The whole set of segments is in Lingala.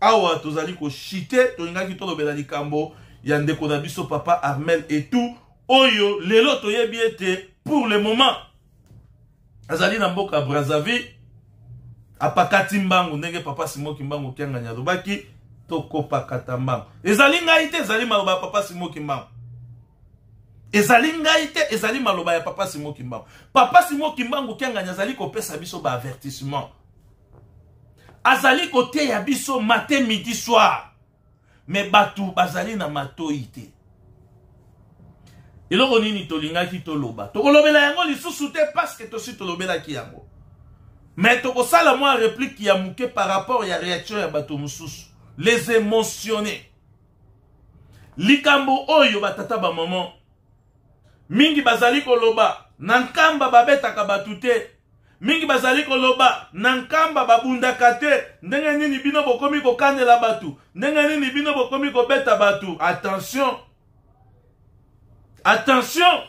awa tozali koshite tolingaki tolobela likambo ya ndeko na biso papa armel etou oyo lelo toyebi ete pour le moment azali na mboka brazzaville apakati mbangu ndenge papa simo kimbangu kiangani alobaki tokopakata mbangu ezali ngai te ezali maloba ya papa simo kimbangu ezali ngai te ezali maloba ya papa simo kimbangu papa simo kimbangu kiangani azali kopesa biso baavertissement azali koteya biso matin midi soir me bato bazali na matoi te eloko nini tolingaki toloba tokolobela yango lisusu te parceke tosi tolobelaki yango me tokosala mwa replike ya moke par rapport ya réaction ya bato mosusu les émotionne likambo oyo batata bamama Mingi bazali koloba na nkamba babetaka bato te. Mingi bazali koloba na nkamba babundaka te. Ndenge nini bino bokomi kokanela bato? Ndenge nini bino bokomi kobeta bato? Attention! Attention!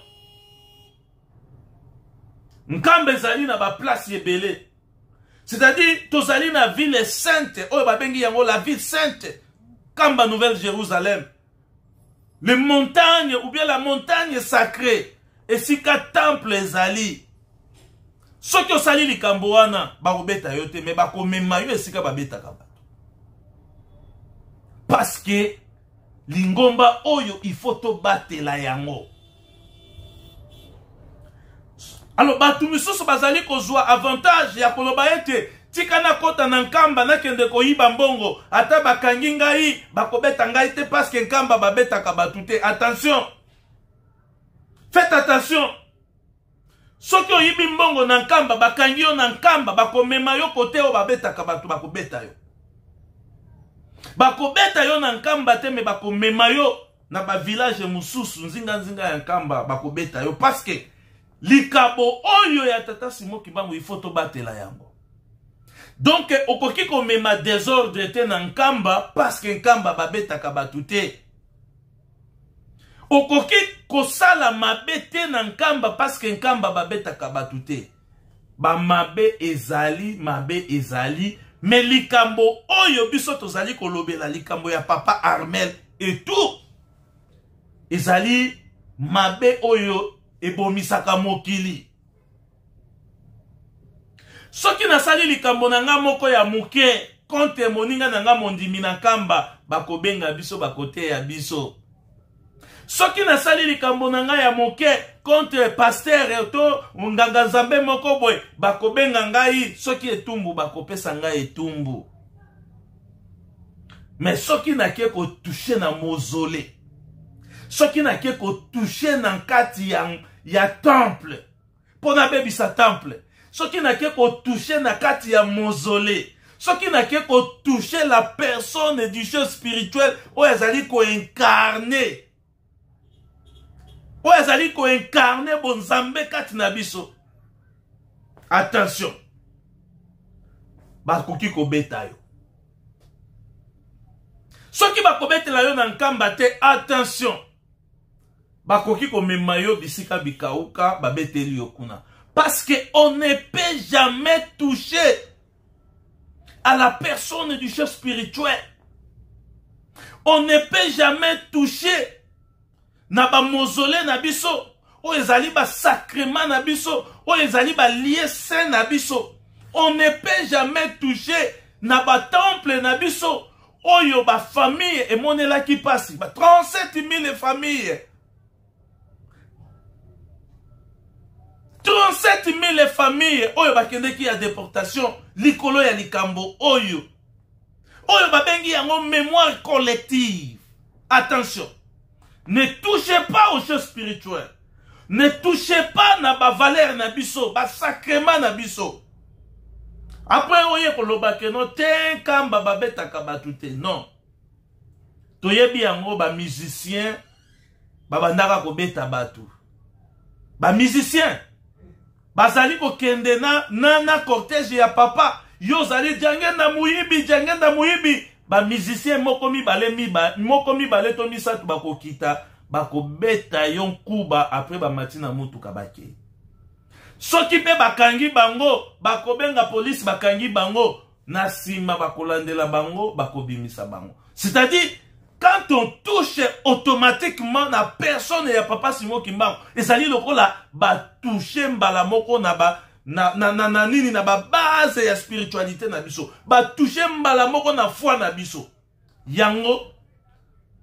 Nkamba ezali na baplace ebele. C'est-à-dire, tozali na ville sainte, oyo babengi yango la ville sainte, Kamba Nouvelle Jérusalem. les montagnes ou bien la montagne sacrée esika temple ezali soki osali likambo wana bakobeta yo te me bakomema yo esika babetaka bato parce que lingomba oyo il faut tobatela yango alors bato misusu bazali kozwa avantage ya koloba ete tika nakɔta na nkamba nakende koyiba mbongo ata bakangi ngai bakobeta ngai te paske nkamba babetaka bato te attention faites attention soki oyibi mbongo na nkamba bakangi yo na nkamba bakomema yo kote oyo babetaka bato bakobeta yo bakobeta yo na nkamba te me bakomema yo na bavillage mosusu nzinganzinga ya nkamba bakobeta yo paske likabo oyo ya tata simo kibangu ifo tobatela yango donk okoki komema desordre te na nkamba paske nkamba babetaka bato te okoki kosala mabe te na nkamba paske nkamba babetaka bato te bamabe ezali mabe ezali me likambo oyo biso tozali kolobela likambo ya papa armel etour ezali mabe oyo ebomisaka mokili soki nasali likambo na nga moko ya moke konte moninga na nga mondimi na kamba bakobenga biso bakoteya biso soki nasali likambo na ngai ya moke contre pastere to nganga nzambe moko boye bakobenga ngai soki etumbu bakopesa ngai etumbu mais soki nake kotouche na mozole soki nake kotouche na nkati ya, ya temple mpo nabebisa temple soki nake kotouche na kati ya mozole soki nake kotouche la personne du jeu spirituel oyo azali koincarne oyo azali koincarne bonzambe kati na biso attention bakoki kobeta yo soki bakobetela yo na nkamba te attention bakoki komema yo bisika bikauka babeteli yo kuna parce que on ne peut jamais toucher à la personne du chef spirituel. On ne peut jamais toucher na ba mausolée na biso oyo ezali ba sacrement na biso oyo ezali ba lieu saint na biso. On ne peut jamais toucher na ba temple na biso oyo ba famille emonelaki pasi ba 37 000 famille 37 000 famille oyo bakendeki ya deportation likolo ya likambo oyo oyo babengi yango mémoire collective attention ne touchez pas aux choses spirituelles ne touchez pas na bavalere na biso basacrement na biso apres oye koloba keno te nkamba babetaka bato te non toyebi yango bamusicien babandaka kobeta bato bamusicien bazali kokende na, na, na cortège ya papa yo ozali jangenda moyibi jangenda moyibi bamusicien moko mibale miba, moko mibale to misato bakokita bakobeta yo nkuba apres bamati na motuka bakei soki mpe bakangi bango bakobenga polisi bakangi bango na nsima bakolandela bango bakobimisa bango c'est-à-dire quand on touche automatiquement na personne ya papa simo kimbangu ezali lokola batouche mbala moko na ba na, na, na, na nini na babase ya spiritualité na biso batouche mbala moko na foi na biso yango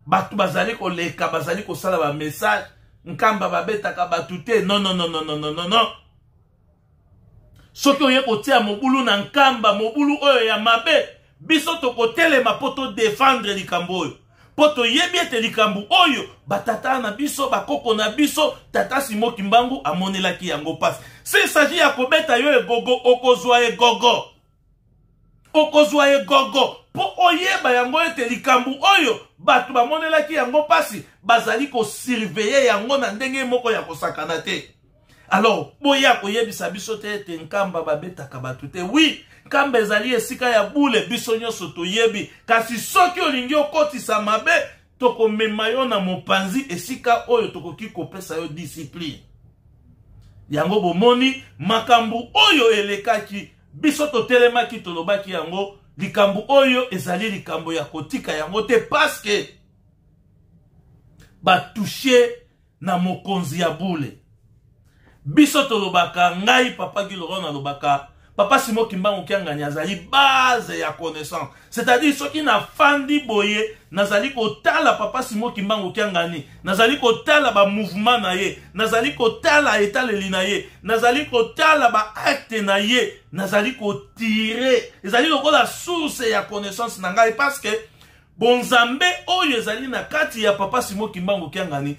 bato bazali koleka bazali kosala bamessage nkamba babetaka bato te nononononononono soki oye kotia mobulu na nkamba mobulu oyo ya mabe biso tokotelema mpo todefendre likambo oyo mpo toyebi ete likambo oyo batata na biso bakoko na biso tata simo kimbangu amonelaki yango mpasi se saji ya kobeta yo egogo okozwa egogo okozwa egogo mpo oyeba yango ete likambo oyo bato bamonelaki yango mpasi bazali kosurveye yango na ndenge moko ya kosakana te alors boya koyebisa biso te ete nkamba babetaka bato te wi nkamba ezali esika ya bule biso nyonso toyebi kasi soki olingi okotisa mabe tokomema yo na mopanzi esika oyo tokoki kopesa yo disipline yango bomoni makambo oyo elekaki biso totelemaki tolobaki yango likambo oyo ezali likambo ya kotika yango te paske batushe na mokonzi ya bule biso tolobaka ngai papa giloro nalobaka papa simo kimbangu kiangani azali base ya connaissance c'est-à-dire soki nafandi boye nazali kotala papa simo kimbangu kiangani nazali kotala bamouvement na ye nazali kotala etaleli na ye nazali kotala baacte na ye nazali kotire ezali lokola source ya connaissance na ngai parce que bonzambe oyo ezali na kati ya papa simo kimbangu kiangani